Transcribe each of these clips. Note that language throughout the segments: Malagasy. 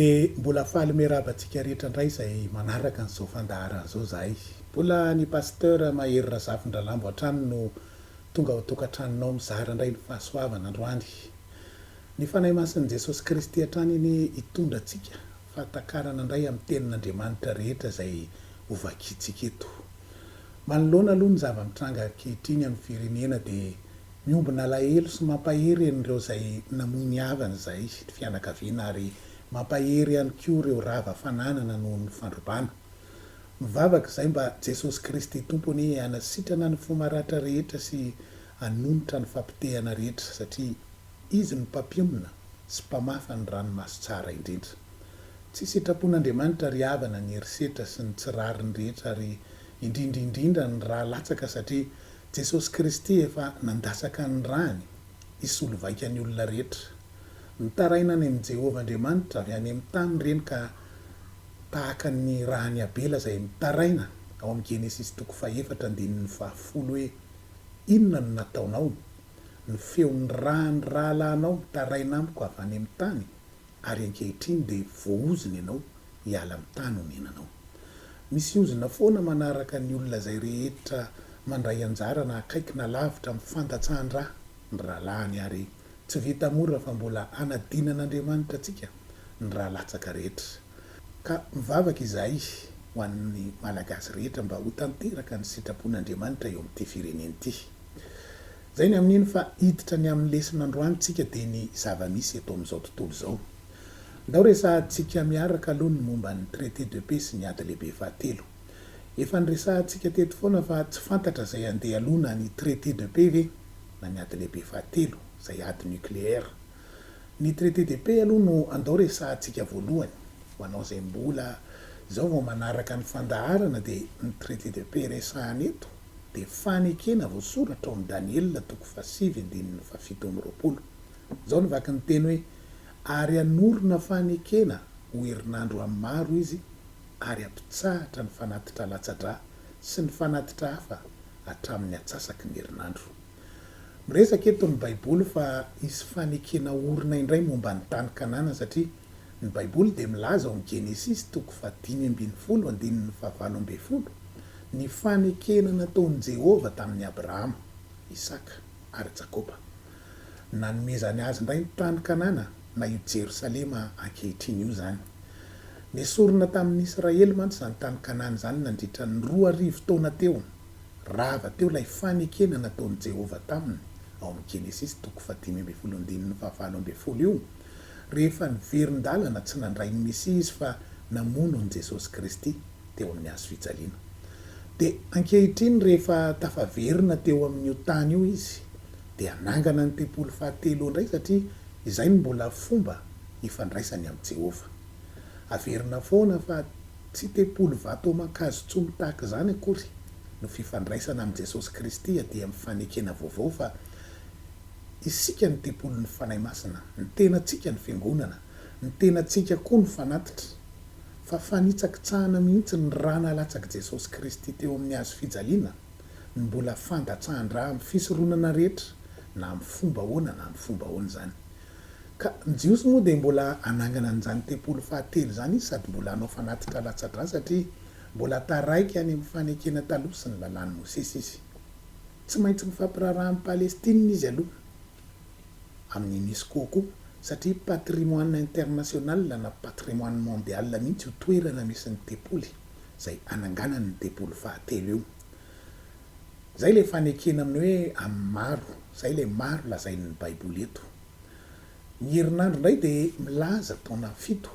Dia mbola faly miarahaba antsika rehetra indray izay manaraka an'izao fandaharana izao izahay. Mbola ny Pasteur Mahery Razafindralambo hatrany no tonga ao an-tokantranonao mizara indray ny fahasoavana androany. Ny Fanahy Masin'i Jesosy Kristy hatrany anie hitondra antsika fahatakarana indray amin'ny Tenin'Andriamanitra rehetra izay hovakiantsika eto. Manoloana aloha ny zava-mitranga ankehitriny amin'ny firenena dia miombona alahelo sy mampahery an'ireo izay namoy ny havany izahay sy ny fianakaviana ary mampahery ihany koa ireo rava fananana noho ny fandrobana. Mivavaka izahay mba Jesosy Kristy Tompo anie hanasitrana ny fo maratra rehetra sy hanonitra ny fampitehana rehetra satria Izy no Mpampionona sy Mpamafa ny ranomaso tsara indrindra. Tsy sitrapon'Andriamanitra ry havana ny herisetra sy ny tsy rariny rehetra ary indrindra indrindra ny ra latsaka satria Jesosy Kristy efa nandatsaka ny rany hisolo vaika ny olona rehetra. Mitaraina any amin'i Jehovah Andriamanitra avy any amin'ny tany ireny ka tahaka ny ran'i Abela izay mitaraina ao amin'ny Genesisy toko fahefatra andininy fahafolo hoe, Inona no nataonao? ny feon'ny ra ny rahalahinao mitaraina amiko avy any amin'ny tany, ary ankehitriny dia voahozona ianao hiala amin'ny tany onenanao. Misy ozona foana manaraka ny olona izay rehetra mandray anjara na akaiky na lavitra amin'ny fandatsahan-dra ny rahalahiny ary tsy vita mora fa mbola hanadinan'Andriamanitra antsika ny ra latsaka rehetra. Ka mivavaka izahay ho an'ny Malagasy rehetra mba ho tanteraka ny sitrapon'Andriamanitra eo amin'ity firenena ity. Izay ny amin'iny fa hiditra ny amin'ny lesin'androany tsika dia ny zava-misy eto amin'izao tontolo izao. Ndao resahantsika miaraka aloha ny momba ny traité de paix sy ny ady lehibe fahatelo. Efa niresahantsika teto foana fa tsy fantatra izay handeha aloha na ny traité de paix ve na ny ady lehibe fahatelo izay ady nucléaire. Ny traité de paix aloha no andao resahantsika voalohany, ho anao izay mbola izao vao manaraka ny fandaharana dia ny traité de paix resahana eto dia fanekena voasoratra ao amin'ny Daniela toko fahasivy andininy fahafito amby roapolo. Izao no vaky ny teny hoe, Ary hanorina fanekena ho herinandro amin'ny maro izy ary hampitsahatra ny fanatitra latsa-dra sy ny fanatitra hafa hatramin'ny atsasaky ny herinandro. Miresaka eto ny Baiboly fa hisy fanekena orina indray momba ny tany Kanana satria ny Baiboly dia milaza ao amin'ny Genesisy toko fahadimy ambin'ny folo andininy fahavalo ambin'ny folo ny fanekena nataon'i Jehovah tamin'i Abrahama, Isaka ary Jakoba. Nanomezany azy indray ny tany Kanana na io Jerosalema ankehitriny io izany. Nesorina tamin'ny Israely mantsy izany tany Kanana izany nandritra ny roa arivo taona teo. Rava teo ilay fanekena nataon'i Jehovah taminy, ao amin'ny Genesisy toko fahadimy ambin'ny folo andininy fahavalo ambin'ny folo io, rehefa niverin-dalana tsy nandray ny Mesia izy fa namono an'i Jesosy Kristy teo amin'ny hazo fijaliana. Dia ankehitriny rehefa tafaverina teo amin'io tany io izy, dia nangana ny tempoly fahatelo indray satria izay no mbola fomba ifandraisany amin'i Jehovah. Averina foana fa. Tsy tempoly vato aman-kazo tsony tahaka izany akory no fifandraisana amin'i Jesosy Kristy dia amin'ny fanekena vaovao fa isika no tempolin'ny Fanahy Masina, ny tenantsika no fiangonana, ny tenantsika koa no fanatitra, fa fanitsakitsahana mihitsy ny ra nalatsak'i Jesosy Kristy teo amin'ny hazo fijaliana no mbola fandatsahan-dra amin'ny fisoronana rehetra na amin'ny fomba ahoana na amin'ny fomba ahoana izany. Ka ny Jiosy moa dia mbola hanangana an'izany tempoly fahatelo izany izy sady mbola hanao fanatitra latsa-drà satria mbola taraiky any amin'ny fanekena taloha sy ny Lalàn'i Mosesy izy. Tsy maintsy mifampiraharaha amin'i Palestina izy aloha, amin'ny UNESCO koa, satria patrimoine international na patrimoine mondial mihitsy io toerana misy ny tempoly izay hananganany ny tempoly fahatelo io. Izay ilay fanekena amin'ny hoe amin'ny maro. Izay ilay maro lazain'ny Baiboly eto. Ny herinandro indray dia milaza taona fito.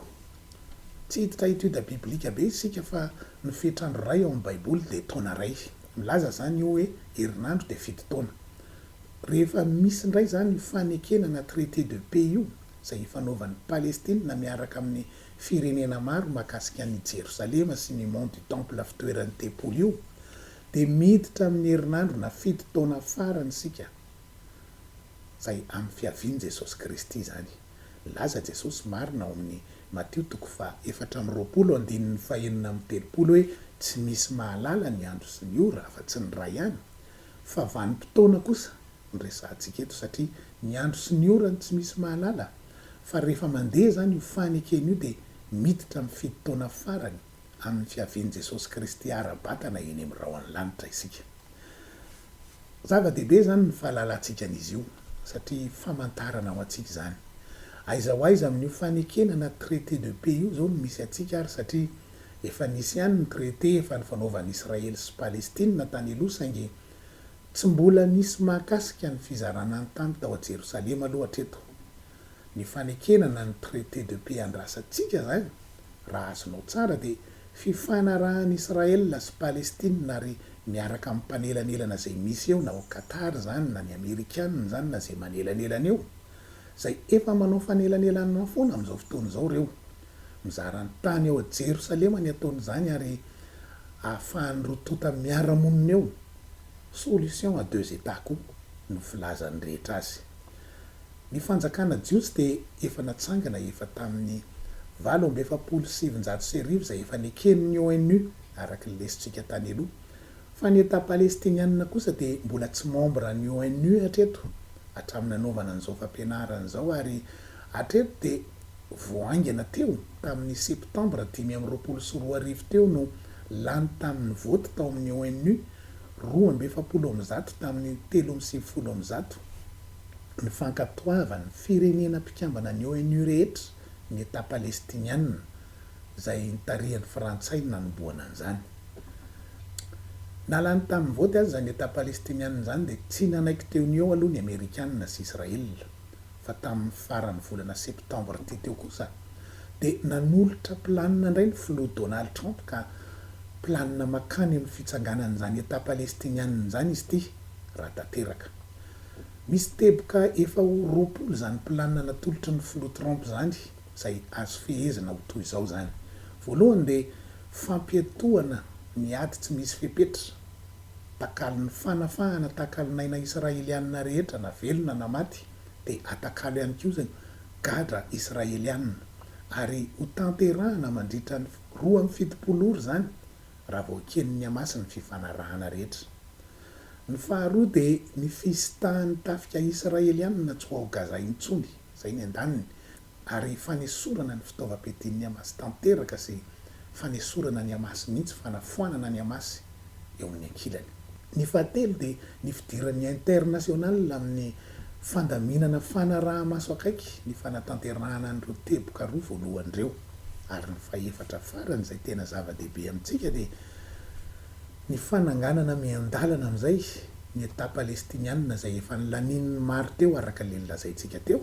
Tsy hiditra étude biblique be isika fa ny fetr'andro iray ao amin'ny Baiboly dia taona iray. Milaza izany io hoe herinandro dia fito taona. Rehefa misy indray izany io fanekena na traité de paix io izay ifanaovan'i Palestina miaraka amin'ny firenena maro mahakasika an'io Jerosalema sy ny Mont du Temple fitoeran'ny tempoly io dia miditra amin'ny herinandro na fito taona farany isika izay amin'ny fiavian'i Jesosy Kristy izany nilaza Jesosy marina ao amin'ny Matio toko faha efatra amby roapolo andininy faha enina amby telopolo hoe tsy misy mahalala ny andro sy ny ora afa tsy ny Ray ihany fa vanim-potoana kosa no resahantsika eto satria ny andro sy ny ora no tsy misy mahalala fa rehefa mandeha izany io fanekena io dia miditra amin'ny fito taona farany amin'ny fiavian'i Jesosy Kristy ara-batana eny amin'ny rahon'ny lanitra isika. Zava-dehibe izany ny fahalalantsika an'izy io satria famantarana ho antsika izany. Aiza ho aiza amin'io fanekena na traité de paix io izao no misy antsika ary satria efa nisy ihany ny traité efa nifanaovan'i Israely sy Palestina tany aloha saingy tsy mbola nisy mahakasika ny fizarana ny tany tao Jerosalema aloha hatreto. Ny fanekena na ny traité de paix andrasantsika izany, raha azonao tsara, dia fifanarahan'i Israël sy Palestine ary miaraka amin'ny mpanelanelana izay misy eo na ao Qatar izany na ny Amerikana izany na izay manelanelana eo, izay efa manao fanelanelanana foana amin'izao fotoana izao ireo. Mizara ny tany ao Jerosalema ny ataony izany ary ahafahan'ny roa tonta miara-monina eo. Solution à deux États koa no filazan'ny rehetra azy. Ny fanjakana jiosy dia efa natsangana efa tamin'ny valo amby efapolo sy sivinjato sy arivo izay efa neken'ny ONU araka ny lesotsika tany aloha. Fa ny Etat Palestiniana kosa dia mbola tsy membre an'ny ONU hatreto hatramin'ny nanaovana an'izao fampianarana izao ary hatreto dia vao haingana teo tamin'ny septembre dimy amby roapolo sy roa arivo teo no lany tamin'ny vote tao amin'ny ONU roa amby efapolo amby zato tamin'ny telo amby sivifolo amby zato, ny fankatoavan'ny firenena mpikambana ny ONU rehetra ny Etat Palestiniana izay nitarihan'ny Frantsay no nanombohana an'izany. Na lany tamin'ny vote aza izany Etat Palestiniana izany dia tsy nanaiky teo ny eo aloha ny Amerikana sy Israel. fa tamin'ny faran'ny volana septambra teo teo kosa dia nanolotra planina indray ny filoha Donald Trump ka planina makany amin'ny fitsanganan'izany Etat Palestiniana izany izy ity raha tanteraka. Misy teboka efa ho roapolo izany planina natolotry ny filoha Trump izany izay azo fehezina ho toy izao izany. Voalohany dia fampiatohana ny ady tsy misy fepetra. Takalon'ny fanafahana takalon'aina Israelianina rehetra na velona na maty dia atakalo ihany koa izay gadra Israelianina ary ho tanterahana mandritra ny roa amby fitopolo ora izany raha vao eken'ny Hamas ny fifanarahana rehetra. Ny faharoa dia ny fisitan'ny tafika Israelianina tsy ho ao Gaza intsony, izay ny andaniny, ary fanesorana ny fitaovam-piadian'ny Hamas tanteraka sy fanesorana ny Hamas mihitsy fanafoanana ny Hamas eo amin'ny ankilany. Ny fahatelo dia ny fidiran'ny International amin'ny fandaminana fanaraha-maso akaiky ny fanatanterahana an'ireo teboka roa voalohany ireo, ary ny fahefatra farany izay tena zava-dehibe amintsika dia Ny fananganana miandalana amin'izay ny Etat Palestiniana izay efa nilanian'ny maro teo araka ilay nolazaintsika teo,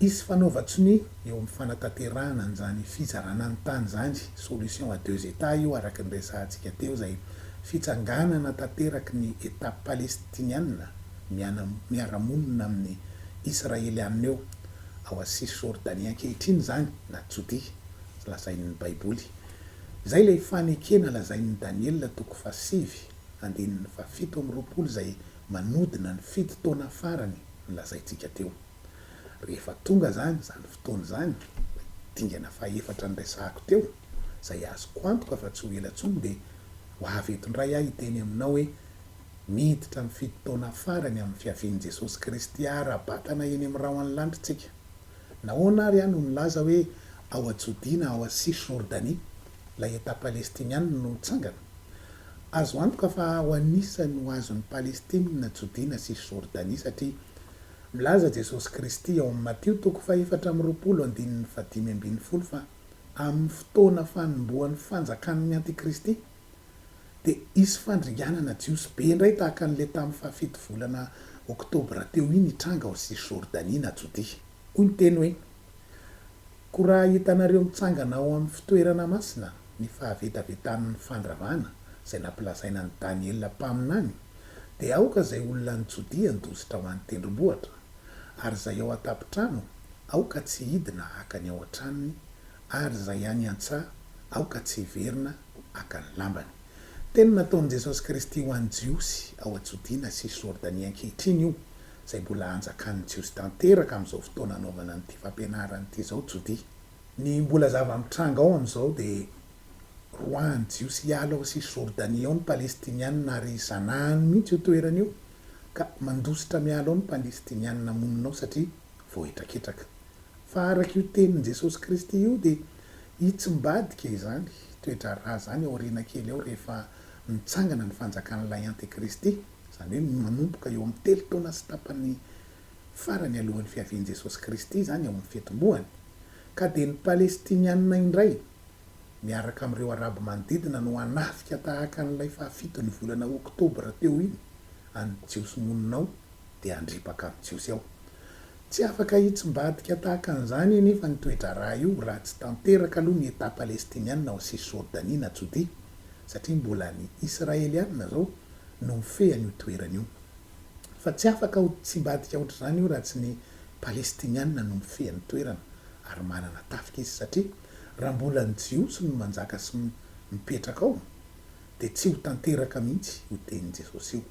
hisy fanaovan-tsonia eo amin'ny fanatanterahana an'izany fizarana ny tany izany, solution à deux Etats io araka ny resahantsika teo izay fitsanganana tanteraky ny Etat Palestiniana miana miara-monina amin'ny Israeliana eo ao Cisjordanie ankehitriny izany na Jodia lazain'ny Baiboly Izay ilay fanekena lazain'i Daniela toko fahasivy andininy fahafito amby roapolo izay manodina ny fito taona farany nolazaintsika teo. Rehefa tonga izany, izany fotoana izany, ilay dingana fahefatra niresahako teo, izay azoko antoka fa tsy ho ela intsony, dia ho avy eto indray aho hiteny aminao hoe, Miditra amin'ny fito taona farany amin'ny fiavian'i Jesosy Kristy ara-batana eny amin'ny rahon'ny lanitra isika. Nahoana ary aho no nilaza hoe ao Jodia na ao à Cisjordanie ilay Etat Palestiniana no nitsangana? Azo antoka fa aho anisany ho azon'i Palestine na Jodia na Cisjordanie satria milaza Jesosy Kristy ao amin'ny Matio toko fahefatra amby roapolo andininy fahadimy ambin'ny folo fa amin'ny fotoana fanombohan'ny fanjakan'ny Antikristy dia hisy fandringanana Jiosy be indray tahaka an'ilay tamin'ny fahafito volana Oktobra teo iny hitranga ao Cisjordanie na Jodia. Hoy ny teny hoe, Koa raha hitanareo mitsangana ao amin'ny fitoerana masina ny fahavetavetan'ny fandravana izay nampilazaina an'i Daniela mpaminany, dia aoka izay olona any Jodia handositra ho any tendrombohitra, ary izay ao an-tampon-trano aoka tsy hidina hankany ao an-tranony, ary izay any an-tsaha aoka tsy hiverina haka ny lambany. Teny nataon'i Jesosy Kristy ho an'ny Jiosy ao Jodiana sy Jordania ankehitriny io, izay mbola anjakan'ny Jiosy tanteraka amin'izao fotoana anaovana an'ity fampianarana ity izao Jodia. Ny mbola zava-mitranga ao amin'izao dia roahan'ny Jiosy hiala ao sy Jordania ao ny Palestiniana ary zanahany mihitsy io toerana io ka mandositra miala ao ny Palestiniana monina ao satria voahetraketraka. Fa araka io tenin'i Jesosy Kristy io dia Hitsimbadika izany toe-draharaha izany aoriana kely eo rehefa mitsangana ny Fanjakan'ilay Antekristy, izany hoe manomboka eo amin'ny telo taona sy tapany farany alohan'ny fiavian'i Jesosy Kristy izany ao amin'ny fitomboany. Ka dia ny Palestiniana indray, miaraka amin'ireo Arabo manodidina no hanafika tahaka an'ilay fahafiton'ny volana Oktobra teo iny an'ny Jiosy monina ao dia handripaka amin'ny Jiosy ao. Tsy afaka hitsimbadika tahaka an'izany anefa ny toe-draharaha io raha tsy tanteraka aloha ny Etat Palestiniana ao Cisjordanie na Jodia, satria mbola ny Israeliana izao no mifehy an'io toerana io. Fa tsy afaka ho tsimbadika hoatr'izany io raha tsy ny Palestiniana no mifehy an'ny toerana ary manana tafika izy, satria raha mbola ny Jiosy no manjaka sy mipetraka ao, dia tsy ho tanteraka mihitsy io tenin'i Jesosy io,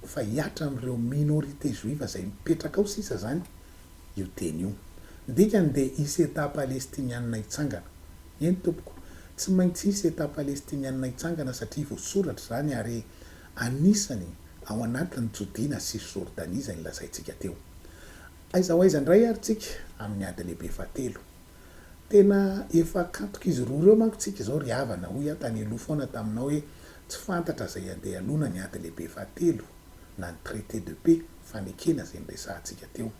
fa hiatra amin'ireo minorité juive izay mipetraka ao sisa izany io teny io. Ny dikany dia hisy Etat palestiniana hitsangana. Eny tompoko, tsy maintsy hisy Etat palestiniana hitsangana satria voasoratra izany ary anisany ao anatin'ny Jodiana sy Jordania izay nolazaintsika teo. Aiza ho aiza indray ary tsika amin'ny ady lehibe fahatelo? Tena efa akantok'izy roa ireo manko tsika izao ry havana, hoy aho tany aloha foana taminao hoe tsy fantatra izay handehalona ny ady lehibe fahatelo na ny traité de paix, fanekena izay niresahantsika teo.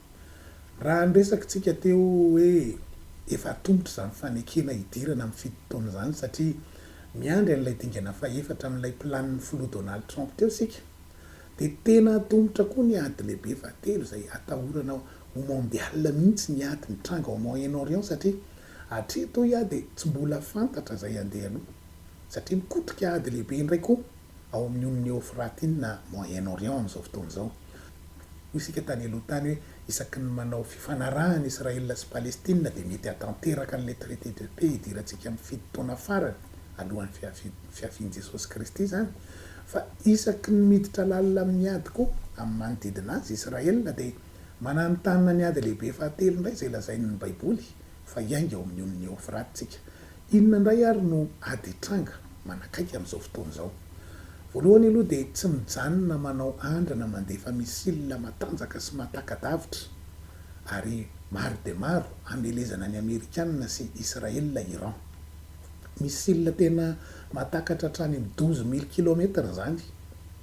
Raha ny resakitsika teo hoe efa atomotra izany fanekena hidirana amin'ny fito taona izany satria miandry an'ilay dingana fahefatra amin'ilay planin'ny filoha Donald Trump teo isika, Dia tena antomotra koa ny ady lehibe fahatelo izay atahorana ho mondial mihitsy ny ady mitranga ao Moyen Orient satria hatreto hoy aho dia tsy mbola fantatra izay handeha aloha satria mikotrika ady lehibe indray koa ao amin'ny Onion Eofratina Moyen Orient amin'izao fotoana izao. Hoy isika tany aloha tany hoe Isaky ny manao fifanarahana Israel sy Palestina dia mety hahatanteraka an'ilay traité de paix hidirantsika amin'ny fito taona farany alohan'ny fiafian'ny fiafian'i Jesosy Kristy izany fa isaky ny miditra lalina amin'ny ady koa amin'ny manodidina azy Israel dia mananontanona ny ady lehibe fahatelo indray izay lazain'ny baiboly fa hiainga ao amin'ny ony Eofraty tsika Inona indray ary no ady hitranga manakaiky amin'izao fotoana izao? Voalohany aloha dia tsy mijanona manao andrana mandefa missile matanjaka sy mahataka-davitra ary maro dia maro hamelezana ny Amerikanina sy Israel Iran. Missile tena mahatakatra hatrany amin'ny douze mille kilomètres izany.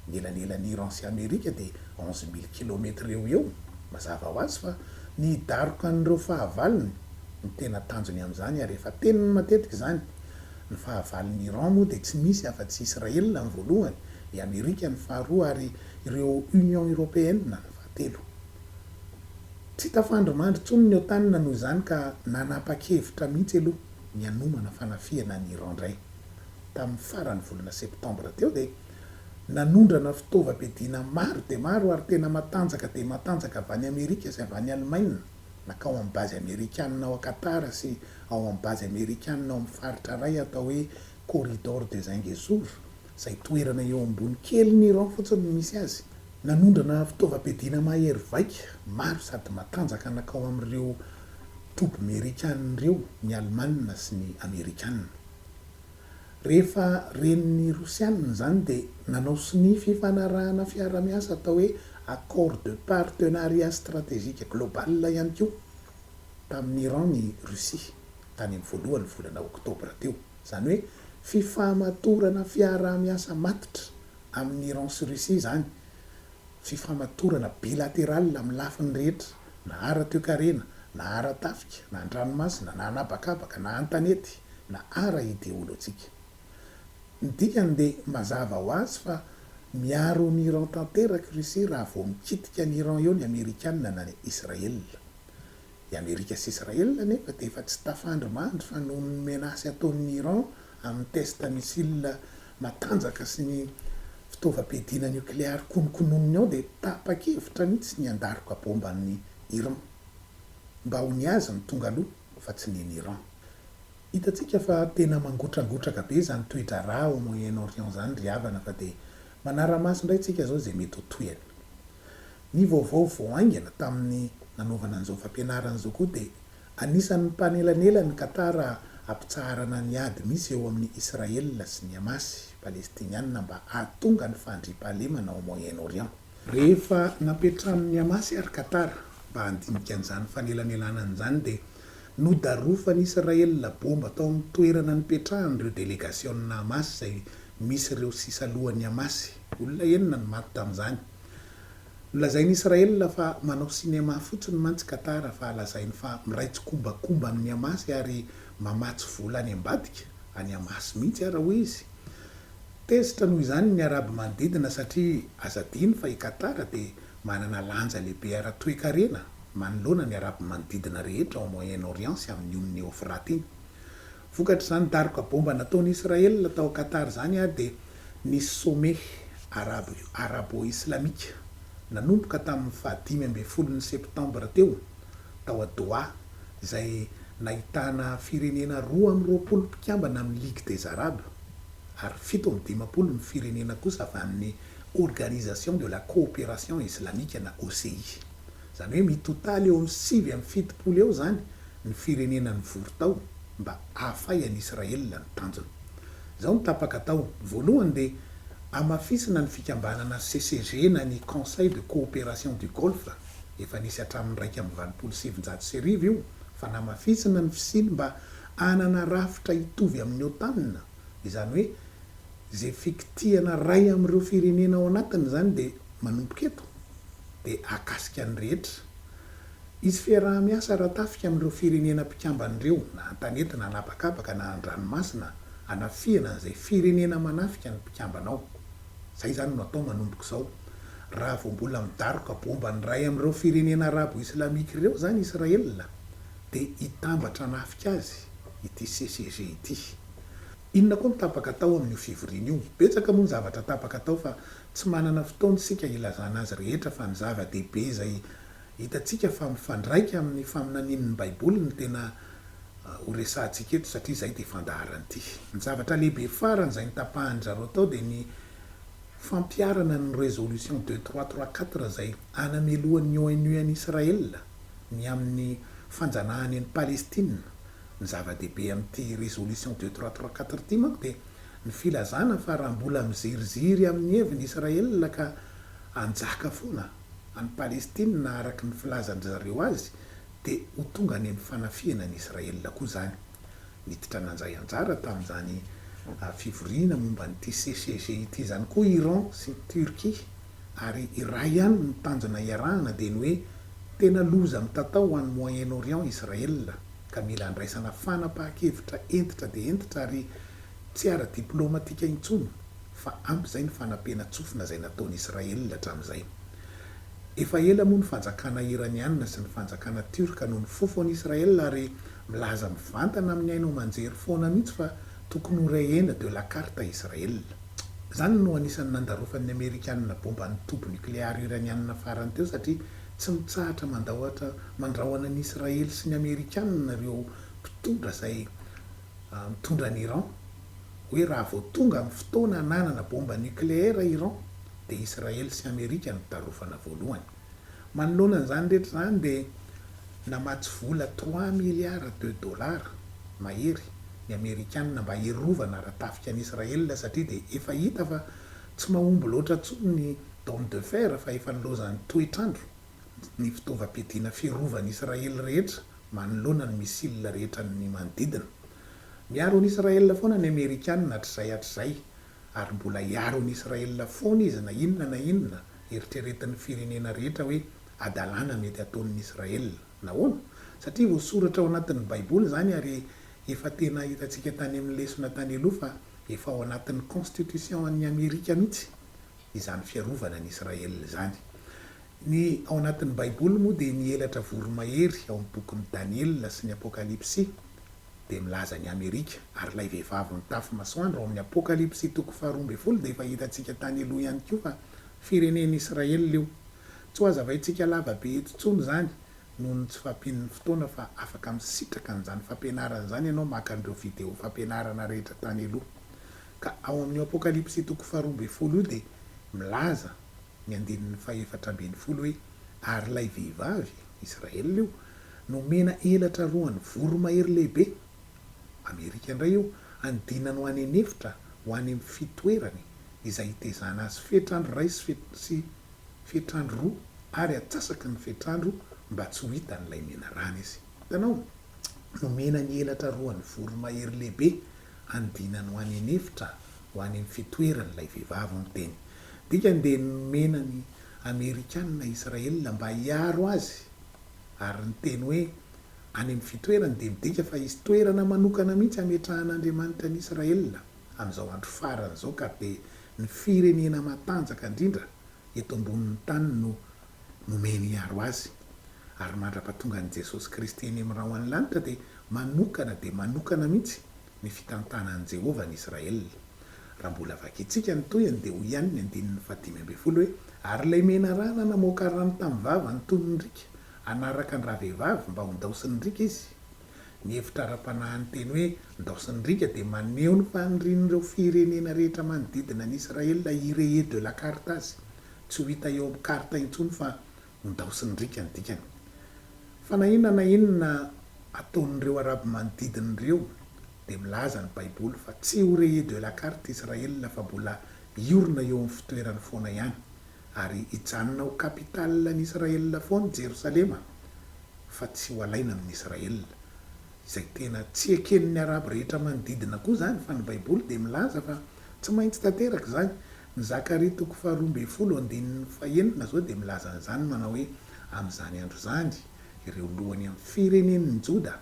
ny elanelan'i Iran sy Amerika dia onze mille kilomètre eo ho eo, mazava ho azy fa ny hidaroka an'ireo fahavalony no tena tanjony amin'izany ary efa teniny matetika izany, ny fahavalon'i Iran moa dia tsy misy afa tsy Israel ny voalohany, i Amerika ny faharoa ary ireo Union Européenne ny fahatelo. Tsy tafandrimandry intsony ny Otan noho izany ka nanapa-kevitra mihitsy aloha ny hanomana fanafihana an'i Iran indray. Tamin'ny faran'ny volana septembre teo dia. Nanondrana fitaovam-piadiana maro dia maro ary tena matanjaka dia matanjaka avy any Amerika sy avy any Alemaina, nankao amin'ny bazy Amerikanina ao Qatar sy ao amin'ny bazy Amerikanina ao amin'ny faritra iray atao hoe Corridor de Zingezur, izay toerana eo ambony kelin'ny Iran fotsiny no misy azy. Nanondrana fitaovam-piadiana mahery vaika maro sady matanjaka nankao amin'ireo toby Amerikana ireo ny Alemana sy ny Amerikana. Rehefa ren'ny Rosiana izany dia nanao sonia fifanarahana fiarahamiasa atao hoe Accord de Partenariat Stratégique Global ihany koa tamin'i Iran ny Russie tany amin'ny voalohan'ny volana oktobra teo. Izany hoe fifamatorana fiarahamiasa matotra amin'i Iran sy Russie izany, fifamatorana bilateral amin'ny lafiny rehetra. na ara-toekarena, na ara-tafika, na an-dranomasina, na an'habakabaka, na an-tanety, na ara-ideolojika. Ny dikany dia mazava ho azy fa miaro an'i Iran tanteraka i Russie raha vao mikitika an'i Iran eo ny Amerikana na ny Israela. I Amerika sy Israela anefa dia efa tsy tafandry mandry fa noho ny menace ataon'i Iran amin'ny test missile matanjaka sy ny fitaovam-piadiana niokleary konokononiny ao dia tapa-kevitra mihitsy ny handaroka bomba an'i Iran. Mba ho ny azy no tonga aloha fa tsy ny an'i Iran. Hitantsika fa tena mangotrangotraka be izany toe-draharaha ao Moyen Orient izany ry havana fa dia manara-maso indray isika izao izay mety ho tohiny. Ny vaovao vao haingana tamin'ny nanaovana an'izao fampianarana izao koa dia Anisan'ny mpanelanela ny Qatar hampitsaharana ny ady misy eo amin'i Israel sy ny Hamas, Palestiniana mba hahatonga ny fandriampahalemana ao Moyen-Orient. Rehefa napetrahan'ny Hamas ary Qatar mba handinika an'izany fanelanelanana izany dia nodarofan'i Israel bomba tao amin'ny toerana nipetrahan'ireo delegasiona Hamas izay misy ireo sisa lohan'ny Hamas. Olona enina no maty tamin'izany. Nolazain'i Israel fa manao sinema fotsiny mantsy Qatar fa lazainy fa miray tsikombakomba amin'ny Hamas ary mamatsy vola any ambadika an'i Hamas mihitsy ara hoy izy. Tezitra noho izany ny Arabo manodidina satria aza adino fa i Qatar dia manana lanja lehibe ara-toekarena manoloana ny Arabo manodidina rehetra ao Moyen-Orient sy amin'ny ony Eofrata iny. Vokatr'izany daroka bomba nataon'i Israel tao Qatar izany dia nisy sommet arabo arabo-islamika nanomboka tamin'ny faha dimy ambin'ny folon'ny Septambra teo tao a Doha izay nahitana firenena roa amby roapolo mpikambana amin'ny Ligue des Arabes ary fito amby dimampolo ny firenena kosa avy amin'ny Organisation de la Coopération Islamique na OCI. Izany hoe mitotaly eo amin'ny sivy amby fitopolo eo izany ny firenena nivory tao mba hahafay an'i Israël ny tanjony. Izao no tapaka atao, voalohany dia hamafisina ny fikambanana CCG na ny Conseil de Coopération du Golfe, efa nisy hatramin'ny iraika amby valopolo sy sivinjato sy arivo io fa namafisina ny fisiany mba hanana rafitra hitovy amin'ny OTAN. Izany hoe izay fikitihana iray amin'ireo firenena ao anatiny izany dia manomboka eto, dia hahakasika ny rehetra. Hisy fiaraha-miasa ara-tafika amin'ireo firenena mpikambana ireo, na an-tanety na an'habakabaka na an-dranomasina, hanafihana an'izay firenena manafika ny mpikambana ao. Izay izany no hatao manomboka izao. Raha vao mbola midaroka baomba ny iray amin'ireo firenena arabo islamika ireo izany Israel, dia hitambatra hanafika azy ity CCG ity. Inona koa no tapaka tao amin'io fivoriana io? Betsaka moa ny zavatra tapaka tao fa tsy manana fotoana isika hilazana azy rehetra fa ny zava-dehibe izay hitantsika fa mifandraika amin'ny faminanian'ny Baiboly no tena ho resahantsika eto satria izay dia fandaharan'ity. Ny zavatra lehibe farany izay notapahan-dry zareo tao dia ny fampiharana ny Résolution deux trois trois quatre izay hanamelohan'ny ONU an'i Israël. ny amin'ny fanjanahana an'i Palestina. Ny zava-dehibe amin'ity résolution deux trois trois quatre ity manko dia ny filazana fa raha mbola miziriziry amin'ny heviny Israël ka hanjaka foana any Palestina araka ny filazan-dry zareo azy dia ho tonga any amin'ny fanafihana an'i Israël koa izany. Niditra nandray anjara tamin'izany fivoriana momba an'ity CCG ity izany koa Iran sy Turquie ary iray ihany no tanjona hiarahana dia ny hoe tena loza mitatao ho an'i Moyen-Orient Israël ka mila andraisana fanapahan-kevitra hentitra dia hentitra ary tsy ara-diplaomatika intsony fa ampy izay ny fanampiana-tsofina izay nataon'i Israël hatramin'izay. Efa ela moa ny fanjakana Iraniana sy ny fanjakana Tiorka no nifofo an'i Israel ary milaza mivantana amin'ny haino aman-jery foana mihitsy fa tokony ho rehena de la carte Israel. Izany no anisan'ny nandarofan'ny Amerikanina bomba ny toby nokleary Iraniana farany teo satria tsy mitsahatra mandaohatra mandrahona an'i Israel sy ny Amerikanina ireo mpitondra izay mitondra an'i Iran, hoe raha vao tonga ny fotoana hananana baomba nucléaire Iran dia Israely sy Amerika no tarofana voalohany. Manoloana an'izany rehetra izany dia namatsy vola trois milliards de dollars mahery ny Amerikanina mba hiarovana ara-tafika an'i Israely satria dia efa hita fa tsy mahomby loatra intsony ny dôme de fer fa efa nilaozan'ny toetr'andro. ny fitaovam-piadiana fiarovan'ny Israely rehetra manoloana ny missile rehetra ny manodidina. Miaro an'i Israel foana ny Amerikana hatrizay hatrizay ary mbola hiaro an'i Israel foana izy na inona na inona eritreretin'ny firenena rehetra hoe hadalana mety hataon'ny Israel. Nahoana? Satria voasoratra ao anatin'ny baiboly izany ary efa tena hitantsika tany amin'ny lesona tany aloha fa efa ao anatin'ny constitution an'i Amerika mihitsy izany fiarovana an'i Israel izany. Ny ao anatin'ny Baiboly moa dia ny elatra voromahery ao amin'ny bokin'i Daniela sy ny Apokalypsy dia milaza an'i Amerika, ary ilay vehivavy mitafy masoandro ao amin'ny Apokalypsy toko faharoa ambin'ny folo dia efa hitantsika tany aloha ihany koa fa firenen'i Israel io. Tsy ho hazavaintsika lava be eto intsony izany noho ny tsy fahampian'ny fotoana fa afaka misitraka an'izany fampianarana izany ianao maka an'ireo video fampianarana rehetra tany aloha. Ka ao amin'io Apokalypsy toko faharoa ambin'ny folo io dia milaza ny andininy fahefatra ambin'ny folo hoe, Ary ilay vehivavy, Israel io, nomena elatra roa an'ny voromahery lehibe, Amerika indray io, hanodinany ho any an'efitra, ho any amin'ny fitoerany, izay hitezana azy fetr'andro iray sy sy fetr'andro roa, ary atsasaky ny fetr'andro mba tsy ho hitan'ilay menarana izy. Hitanao? Nomena ny elatra roa an'ny voromahery lehibe hanodinany ho any an'efitra ho any amin'ny fitoerany ilay vehivavy, hoy ny teny. Dikany dia nomena ny Amerikana Israel mba hiaro azy, ary ny teny hoe any amin'ny fitoerany dia midika fa hisy toerana manokana mihitsy hametrahan'Andriamanitra an'i Israel amin'izao andro farany izao ka dia ny firenena matanjaka indrindra eto ambonin'ny tany no nomeny hiaro azy. Ary mandra-pahatongan'i Jesosy Kristy eny amin'ny rahon'ny lanitra dia manokana dia manokana mihitsy ny fitantanan'i Jehovah an'i Israel. Raha mbola vakintsika ny tohiny dia hoy ihany ny andininy fahadimy ambin'ny folo hoe, Ary ilay menarana namoaka rano tamin'ny vavany toy ny riaka, hanaraka an-dravehivavy mba hondaosin'ny riaka izy. Ny hevitra ara-panahin'ny teny hoe ndao sy ndriaka dia maneho ny fanirian'ireo firenena rehetra manodidina an'i Israël irehe de la carte azy. Tsy ho hita eo amin'ny karta intsony fa ho ndao sy ndriaka ny dikany. Fa na inona na inona ataon'ireo Arabo manodidina ireo dia milaza ny Baiboly fa tsy ho rehe de la carte Israël fa mbola hiorina eo amin'ny fitoerany foana ihany. Ary hijanona ho kapitalin'i Israel foana Jerosalema fa tsy ho alaina amin'i Israel. Izay tena tsy eken'ny Arabo rehetra manodidina koa izany fa ny Baiboly dia milaza fa tsy maintsy tanteraka izany. Ny Zakaria toko faharoa ambin'ny folo andininy fahenina izao dia milaza an'izany manao hoe, Amin'izany andro izany, ireo lohany amin'ny firenen'ny Joda,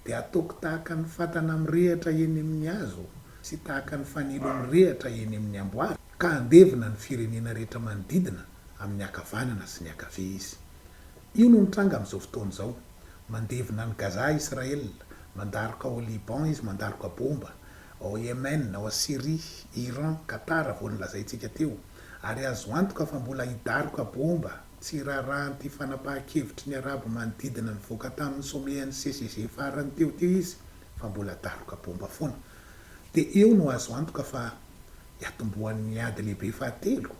dia ataoko tahaka ny fatana mirehatra eny amin' ny hazo sy tahaka ny fanilo mirehatra eny amin' ny amboara, ka handevina ny firenena rehetra manodidina amin' ny ankavanana sy ny ankavia Izy. Io no nitranga amin' izao fotoana izao. Mandevina any Gaza Israel, mandaroka ao Liban izy, mandaroka bômba ao Yemen, ao Syria, Iran, Qatar, vao nolazaintsika teo, ary azo antoka fa mbola hidaroka bômba Tsy rarahan'ity fanapahan-kevitry ny Arabo manodidina nivoaka tamin'ny sommet an'ny CCG farany teo teo izy fa mbola daroka baomba foana. Dia eo no azo antoka fa hiatombohan'ny ady lehibe fahatelo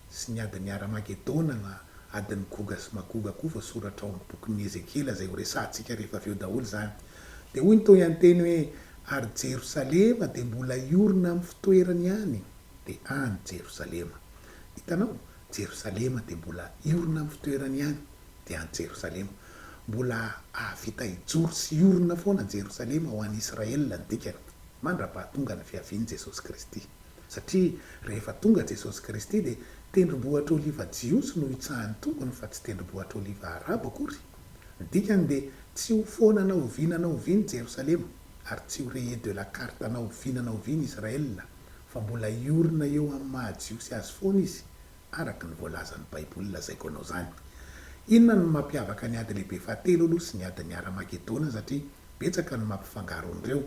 sy ny adin'i Haramagedona na adin'i Goga sy Magoga koa voasoratra ao amin'ny bokin'i Ezekiela izay horesahantsika rehefa avy eo daholo izany. Dia hoy ny tohian-teny hoe, Ary Jerosalema dia mbola hiorina amin'ny fitoerany ihany. Dia any Jerosalema. Hitanao? Jerosalema dia mbola hiorina amin'ny fitoerany ihany dia any Jerosalema. Mbola hahavita hijoro sy hiorina foana Jerosalema ho an'i Israel ny dikany, mandrapahatonga ny fiavian'i Jesosy Kristy. Satria rehefa tonga Jesosy Kristy dia tendrombohitra oliva jiosy no hitsahan'ny Tompony fa tsy tendrombohitra oliva arabo akory. Ny dikany dia tsy ho foana na oviana na oviana i Jerosalema ary tsy ho raye de la carte na oviana na oviana Israel fa mbola hiorina eo amin'ny maha Jiosy azy foana izy, araka ny voalazan'ny Baiboly lazaiko anao izany. Inona no mampiavaka ny Ady Lehibe Fahatelo aloha sy ny Adin'i Haramagedona satria betsaka ny mampifangaro an'ireo.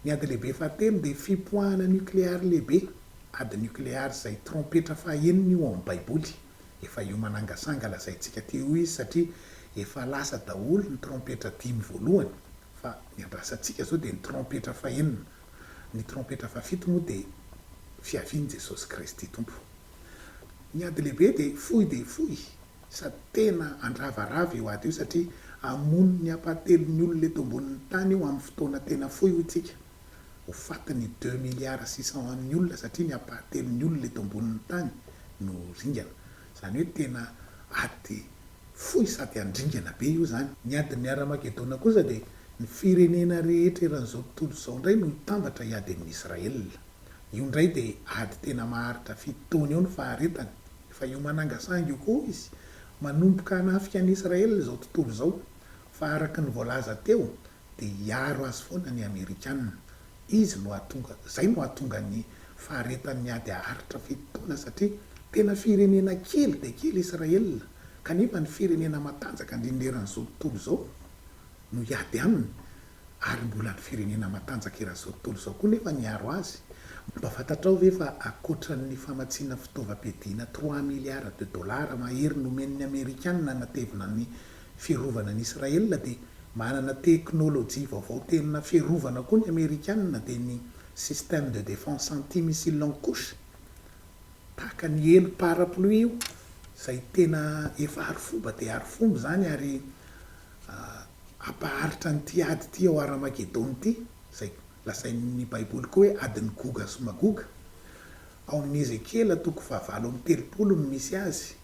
Ny Ady Lehibe Fahatelo dia fipoahana nukleary lehibe, ady nukleary izay trompetra fahenina io ao amin'ny Baiboly. Efa io manangasanga lazaintsika teo io izy satria efa lasa daholo ny trompetra dimy voalohany fa ny andrasantsika izao dia ny trompetra fahenina. Ny trompetra fahafito moa dia fiavian'i Jesosy Kristy Tompo. Ny ady lehibe dia fohy dia fohy sady tena handravarava io ady io satria hamono ny hampahatelon'ny olona eto ambonin'ny tany io amin'ny fotoana tena fohy hoy tsika. Ho faty ny deux milliards six cent an'ny olona satria ny hampahatelon'ny olona eto ambonin'ny tany no ringana. Izany hoe tena ady fohy sady handringana be io izany. Ny adin'ny Haramagedona kosa dia ny firenena rehetra eran'izao tontolo izao indray no hitambatra hiady amin'i Israela. Io indray dia ady tena maharitra fito taona eo ny faharetany. Efa eo Manangasanga io koa izy. Manomboka hanafika an'i Israela izao tontolo izao. Fa araka ny voalaza teo dia hiaro azy foana ny Amerikana. Izy no hahatonga, izay no hahatonga ny faharetan'ny ady haharitra fito taona satria tena firenena kely dia kely Israel kanefa ny firenena matanjaka indrindra eran'izao tontolo izao no hiady aminy ary mbola ny firenena matanjaka eran'izao tontolo izao koa nefa ny hiaro azy. Mba fantatrao ve fa ankoatran'ny famatsiana fitaovam-piadiana trois milliards de dollars mahery nomen'ny Amerikana hanatevina ny fiarovana an'i Israel dia manana teknolojia vaovao tena fiarovana koa ny Amerikanina dia ny système de défense anti-missile longue couche tahaka ny helo parapluie io izay tena efa arofoba dia arofoba izany ary ampaharitra an'ity ady ity ao Haramagedona ity izay lazain'ny baiboly koa hoe adin'i Goga sy Magoga ao amin'ny Ezekiela toko fahavalo amby telopolo no misy azy.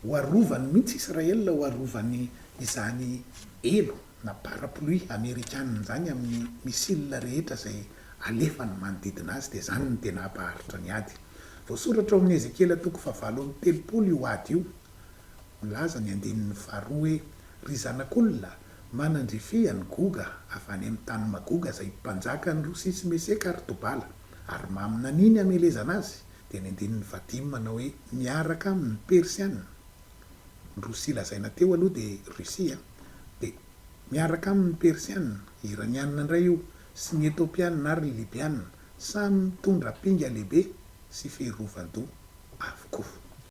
Ho arovany mihitsy Israel ho arovany izany elo na parapluie amerikana izany amin'ny missile rehetra izay alefany manodidina azy dia izany no tena hampaharitra ny ady. Voasoratra ao amin'ny Ezekiela toko fahavalo amby telopolo io ady io. Milaza ny andininy faharoa hoe, Ry zanak'olona, manandrifia an'i Goga avy any amin'ny tany Magoga izay mpanjakan'i Rosia sy Meseka ary Tobala, ary maminania ny hamelezana azy, Dia ny andininy fahadimy manao hoe. Miaraka amin' ny Persiana. Ny Rosia lazaina teo aloha dia Russie a. Dia miaraka amin' ny Persiana, Iraniana indray io, sy ny Etopiana ary ny Libiana, samy mitondra pinga lehibe sy fehy rovan-doha avokoa.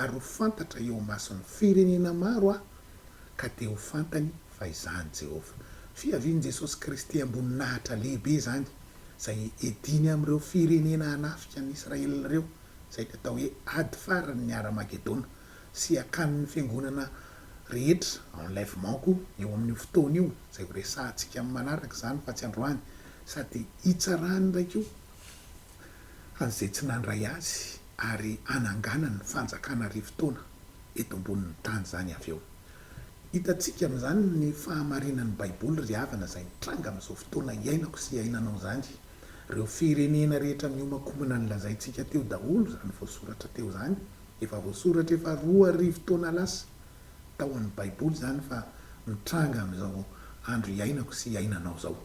ary ho fantatra eo imason'ny firenena maro aho, ka dia ho fantany fa izaho an'i Jehovah. Fiavian'i Jesosy Kristy am-boninahitra lehibe izany, izay ediny amin'ireo firenena hanafika an'i Israely ireo, izay ny atao hoe ady faran'ny Hara-magedona, sy hakanin'ny fiangonana rehetra, enlèvement, koa eo amin'io fotoana io, izay horesahantsika amin'ny manaraka izany fa tsy androany, sady hitsarany indray koa an'izay tsy nandray azy ary hananganany ny fanjakana arivo taona eto ambonin'ny tany izany avy eo. Hitantsika amin'izany ny fahamarinan'ny Baiboly ry havana izay mitranga amin'izao fotoana iainako sy iainanao izany. Ireo firenena rehetra mihomakomana nolazaintsika teo daholo izany voasoratra teo izany, efa voasoratra efa roa arivo taona lasa tao amin'ny Baiboly izany fa mitranga amin'izao andro iainako sy iainanao izao.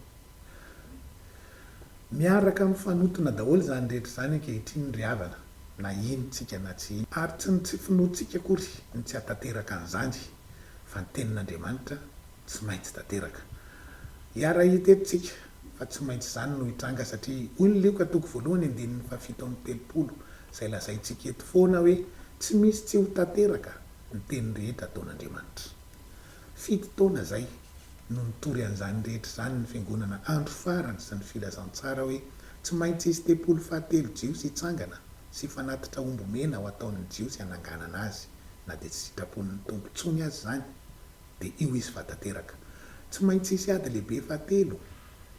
Miaraka mifanotona daholo izany rehetra izany ankehitriny ry havana, na ino tsika na tsy ino. Ary tsy ny tsy finoantsika akory no tsy hahatanteraka an'izany, fa ny Tenin'Andriamanitra tsy maintsy tanteraka. Hiara-hita eto tsika fa tsy maintsy izany no hitranga, satria hoy ny Lioka toko voalohany andininy fahafito amby telopolo, izay lazaintsika eto foana hoe tsy misy tsy ho tanteraka ny teny rehetra ataon'Andriamanitra. Fito taona izay no nitory an'izany rehetra izany ny Fiangonana andro farany sy ny filazantsara hoe tsy maintsy hisy tempoly fahatelo jiosy hitsangana sy fanatitra omby mena ho ataon'ny jiosy hananganana azy na dia tsy sitrapon'ny Tompo intsony aza izany dia io izy fa tanteraka. Tsy maintsy hisy ady lehibe fahatelo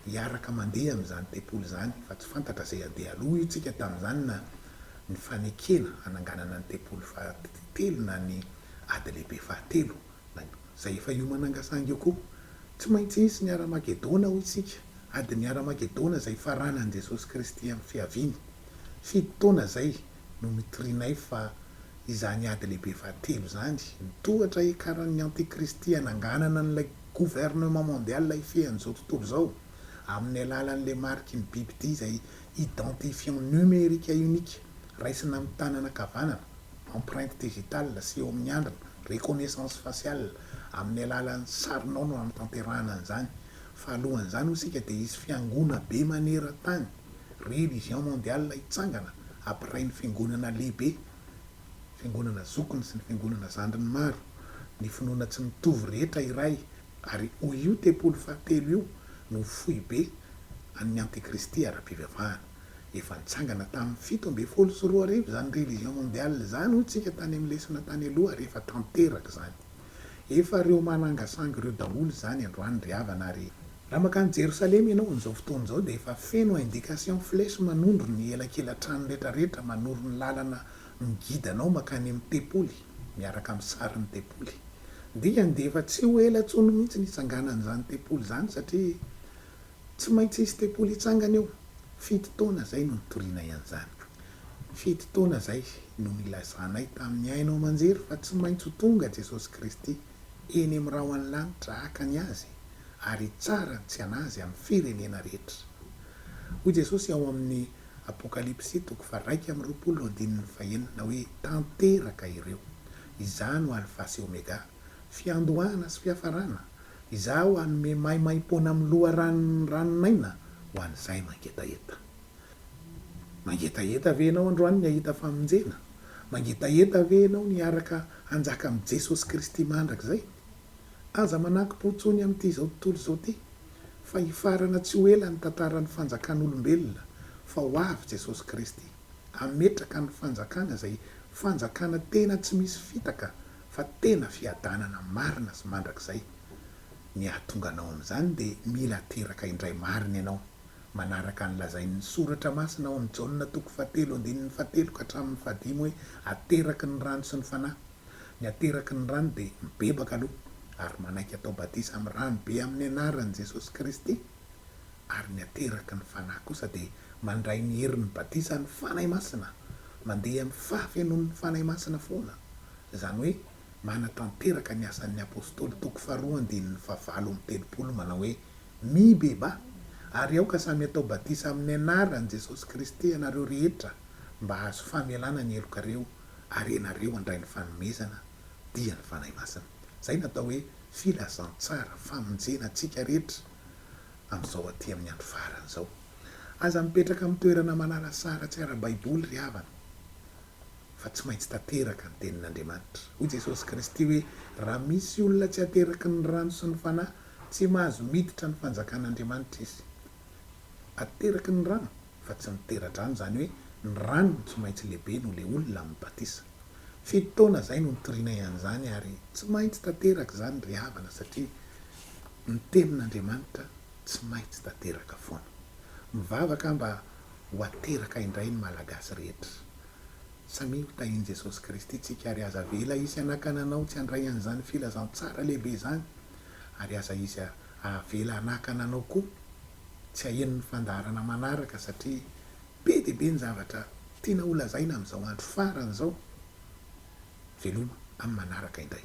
hiaraka mandeha amin'izany tempoly izany fa tsy fantatra izay handeha aloha io tsika tamin'izany na ny fanekena hananganana ny tempoly fahatelo na ny ady lehibe fahatelo. Baiko, izay efa hiomananga saingy eo koa. Tsy maintsy hisy ny Haramagedona, hoy isika, adin'ny Haramagedona izay hifaranan'i Jesosy Kristy amin'ny Fiaviany. Fito taona izay no nitorianay fa izany ady lehibe fahatelo izany, ny tohatra hiakaran'ny Antikristy hananganana an'ilay Gouvernement Mondial hifehy an'izao tontolo izao, amin'ny alalan'ilay mariky ny bibidia izay Identifiant numérique unique, raisina amin'ny tanana ankavanana, empreinte digitale, sy eo amin'ny handrina, reconnaissance faciale, amin'ny alalan'ny sarinao no hanatanterahana an'izany. Fa alohan'izany hoy isika dia hisy fiangona be maneran-tany, religion mondiale, hitsangana, apiray ny fiangonana lehibe, fiangonana zokiny sy ny fiangonana zandriny maro, ny finoana tsy mitovy rehetra iray, Ary hoy io tempoly fahatelo io no ho foibe an' ny antikristy ara-pivavahana. Efa nitsangana tamin' ny fito ambin'ny folo sy roa arivo izany religion mondiale izany hoy tsika tany amin' ny lesona tany aloha ary efa tanteraka izany. Efa reo manangasangy reo daholo izany androany ry havana ary. Raha makany Jerosalema ianao amin'izao fotoana izao dia efa feno indication flèche manondro ny elakelan-trano retraretra manoro ny lalana ny gidanao mankany amin'ny tempoly miaraka amin'ny sarin'ny tempoly dia handefa tsy ho ela intsony mihitsy ny hitsanganan'izany tempoly izany satria tsy maintsy hisy tempoly hitsangana eo, fito taona izay no nitorianay an'izany, fito taona izay no nilazanay tamin'ny haino aman-jery fa tsy maintsy ho tonga Jesosy Kristy eny amin'ny rahon'ny lanitra haka ny Azy ary hitsara ny tsy an'Azy amin'ny firenena rehetra. Hoy Jesosy ao amin'ny. Apokalypsy toko faharaika amby roapolo andininy fahenina hoe tanteraka ireo. Izaho no Alfa sy Omega, fiandohana sy fiafarana, Izaho hanome maimaimpoana amin'ny loharanon'ny ranon'aina ho an'izay mangetaheta. Mangetaheta ve ianao androany ny hahita famonjena? Mangetaheta ve ianao ny hiaraka hanjaka amin'i Jesosy Kristy mandrakizay? Aza manakmpo intsony amin'ity izao tontolo izao ity, fa hifarana tsy ho ela ny tantaran'ny fanjakan'olombelona, fa ho avy Jesosy Kristy, hametraka ny fanjakana izay fanjakana tena tsy misy fitaka, fa tena fiadanana marina sy mandrakizay. Ny hahatonga anao amin'izany dia mila teraka indray marina ianao, manaraka ny lazain'ny Soratra Masina ao amin'ny Jaona toko fahatelo andininy fahatelo ka hatramin'ny fahadimy hoe, Ateraky ny rano sy ny Fanahy. Ny ateraky ny rano dia mibebaka aloha ary manaiky atao batisa amin'ny rano be amin'ny anaran'i Jesosy Kristy, ary ny ateraky ny Fanahy kosa dia mandray ny herin'ny batisan'ny Fanahy Masina, mandeha amin'ny fahafenoan'ny Fanahy Masina foana, izany hoe manatanteraka ny asan'ny Apostoly toko faharoa andininy fahavalo amby telopolo manao hoe, Mibebaha, ary aoka samy atao batisa amin'ny anaran'i Jesosy Kristy ianareo rehetra mba hahazo famelana ny helokareo, ary ianareo handray ny fanomezana dia ny Fanahy Masina. Izay no atao hoe filazantsara, famonjena antsika rehetra amin'izao aty amin'ny andro farany izao. Aza mipetraka amin'ny toerana malalasara tsy ara-baiboly ry havana, fa tsy maintsy tanteraka ny tenin'Andriamanitra. Hoy Jesosy Kristy hoe, Raha misy olona tsy ateraky ny rano sy ny Fanahy, tsy mahazo miditra ny fanjakan'Andriamanitra izy. Ateraky ny rano. fa tsy ny tera-drano, izany hoe ny rano no tsy maintsy lehibe noho ilay olona amin'ny batisa. Fito taona izay no nitorianay an'izany ary tsy maintsy tanteraka izany ry havana satria ny tenin'Andriamanitra tsy maintsy tanteraka foana. Mivavaka aho mba ho ateraka indray ny Malagasy rehetra. Samia ho tahin'i Jesosy Kristy isika ary aza avela hisy hanakana anao tsy handray an'izany filazantsara lehibe izany ary aza hisy ahavela hanakana anao koa. Tsy haheno ny fandaharana manaraka satria be dia be ny zavatra tiana holazaina amin'izao andro farany izao. Veloma amin'ny manaraka indray.